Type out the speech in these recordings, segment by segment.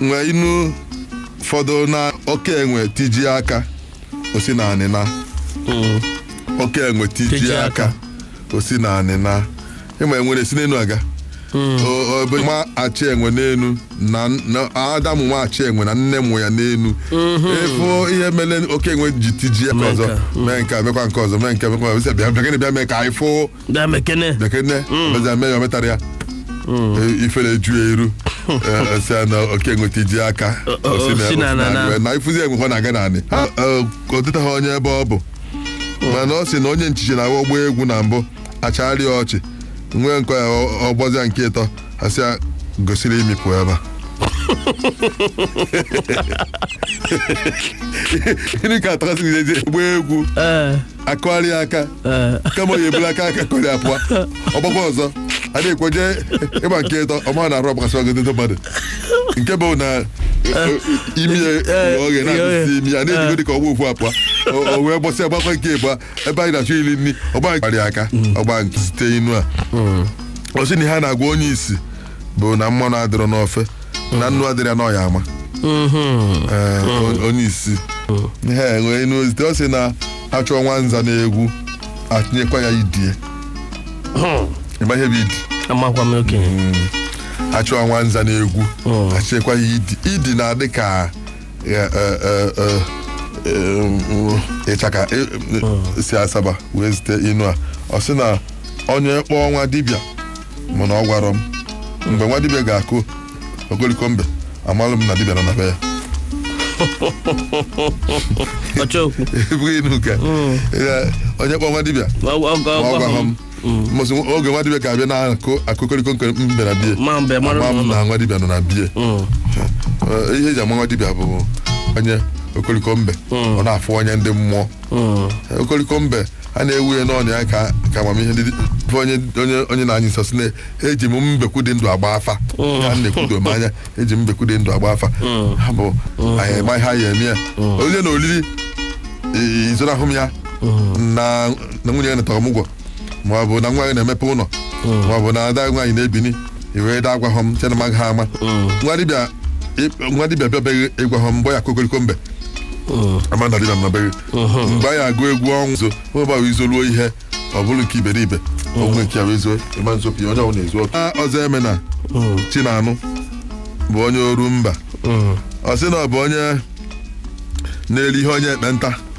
nwee inu fọdụ na oke enwe tiji aka o si n'anị naa oke enwe tiji Tiji aka. aka o si n'anị naa ị ma enwe na-esi n'enu aga O- o- ebe nwa achị enwe n'enu na na- adamu nwa achị enwe na nne mụ ya n'enu ị fụ ihe mere oke enwe ji tiji aka Mee ọzọ nka. mee nke a, mekwa nke ọzọ mee nke a, mekwa nke ọzọ. Sị, bịa bịa gịnị bịa mee ka anyị fụ na mekene bekene meza mee ya o metara ya E, ifere eju ya iru E, ọ sị ya na oke enwe tiji aka O- o- O sị o si na- na- o si na- na- na ị fụzi enwe ha na-aga naanị ha e, o dịta ha onye ebe ọ bụ mana ọ sị na onye nchichi na-agba ọgbọ egwu na mbụ achagharị ya ọchị nwee nkọ ya ọ- ọ gbazịa nke ịtọ ha sị ya gosiri imi pụ ebe a gịnị ka atọkasị gị eji agba egwu ee akọrị ya aka kama ya ebula aka aka kọrị ya pụọ ọ gbakwa ọzọ a na-ekwe jee ịgba nke ịtọ ọ ma na arụ agbakasịgo ndị mmadụ nke bụ na imi ya eh, oge eh, na-adịsi imi ya na-ejigo dịka ọ gba ofu apụa o wee gbasịa gbakwa nke ịbụa ebe anyị na-achọ iri nri ọgba nke kparị aka ọgba nke zite inu a hmm. ọ sị na ihe a na-agwa onye isi bụ na mmanụ adịrọ n'ofe na nnu adịrọ n'ọnụ ya ama Ee, on- onye isi ha enwe inu o zite ọ sị na a chọọ nwa nza n'egwu a chịnyekwa ya idi e ị ma ihe bụ idi amakwa m okenye a chọọ nwa nza n'egwu Mm. a chịnyekwa ya idi idi na-adị ka e, e, e, e, e, mm, ịchaka e, e, si Asaba wee zite inu a ọ sị na onye kpọọ nwa dibịa mana ọ gwarọ m mgbe nwa dibịa ga-akụ okoliko mbe a malụ na dibịa nọ na be ya ọchọ okwu ebughị inu nke Ya, onye kpọọ nwa dibịa Ọ- ọ- ọ- ma ọ ọ- gwaghọ m mụsị oge nwa dibịa ga-abịa na-akụ akụ okoliko nke mbe na be ya ma mbe mara ama m ụlọ. na nwa dibịa nọ na be ya Mm. Eh, ihe eji ama nwa dibịa bụ onye okoliko mbe ọ na-afụ onye ndị mmụọ okoliko mbe a na-ewu ya n'ọnụ ya ka ka amamihe ndị bụ onye onye onye na-anyị nsọ si na eji m mbekwu dị ndụ agba afa ya na-ekwudo m anya eji m mbekwu dị ndụ agba afa ha bụ anyị ama ihe anyị eme ya onye na olili i zonahụ m ya na na nwunye ya natara m ụgwọ ma ọ bụ na nwa ya na-emepe ụlọ ma ọ bụ na ada nwaanyị na-ebini i wee daa agwahụ m chere ma ha ama nwa dibịa ị- nwa dibịa bịabeghị ị gwahụ m mgbe ya kụ okoliko mbe ama na dibịa mmabeghị mgbe anyị agụ egwu ọnwụ zo onye gbawa izo ruo ihe ọ bụrụ nke iberibe onwe nke ya wee zuo ị ma nzopụ ya onye ọbụla ezuo ọkụ. Ah, Ọzọemena Chinanụ bụ onye Orumba ọ sị na ọ bụ onye na-eri ihe onye ekpenta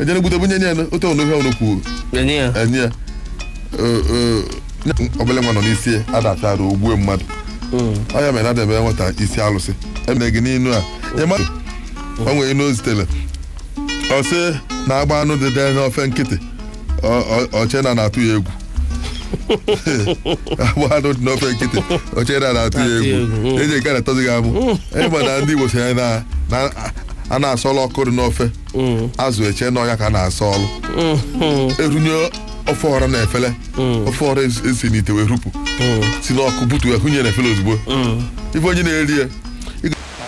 ejere gbute bunye nye ya otu ọnụ ihe ọnụ kwuru Enye ya. enye ya obele nwa nọ n'isi ya a datara ogbue mmadụ onye mere na debe nweta isi alụsị emere gị n'inu a ya mmadụ o nwere inu o zitere ọ sị na agba anụ dị dị n'ofe nkịtị Ọ- ọ- o che na a na-atụ ya egwu agba anụ dị n'ofe nkịtị o che na a na-atụ ya Atụ ya egwu egwu. eji nke na-atọzi gị amụ ị ma na ndị Igbo sị anyị na- na a na-asọlụ ọkụ dị n'ofe Mm, azụ eche na ọ nya ka a na-asọlụ mm, mm, erunye ofe ọra na efele Mm. ofe ọra esi- esi n'ite wee rupụ mm, si n'ọkụ butu wee hụnye na efele ozugbo mm. ife onye na-eri ya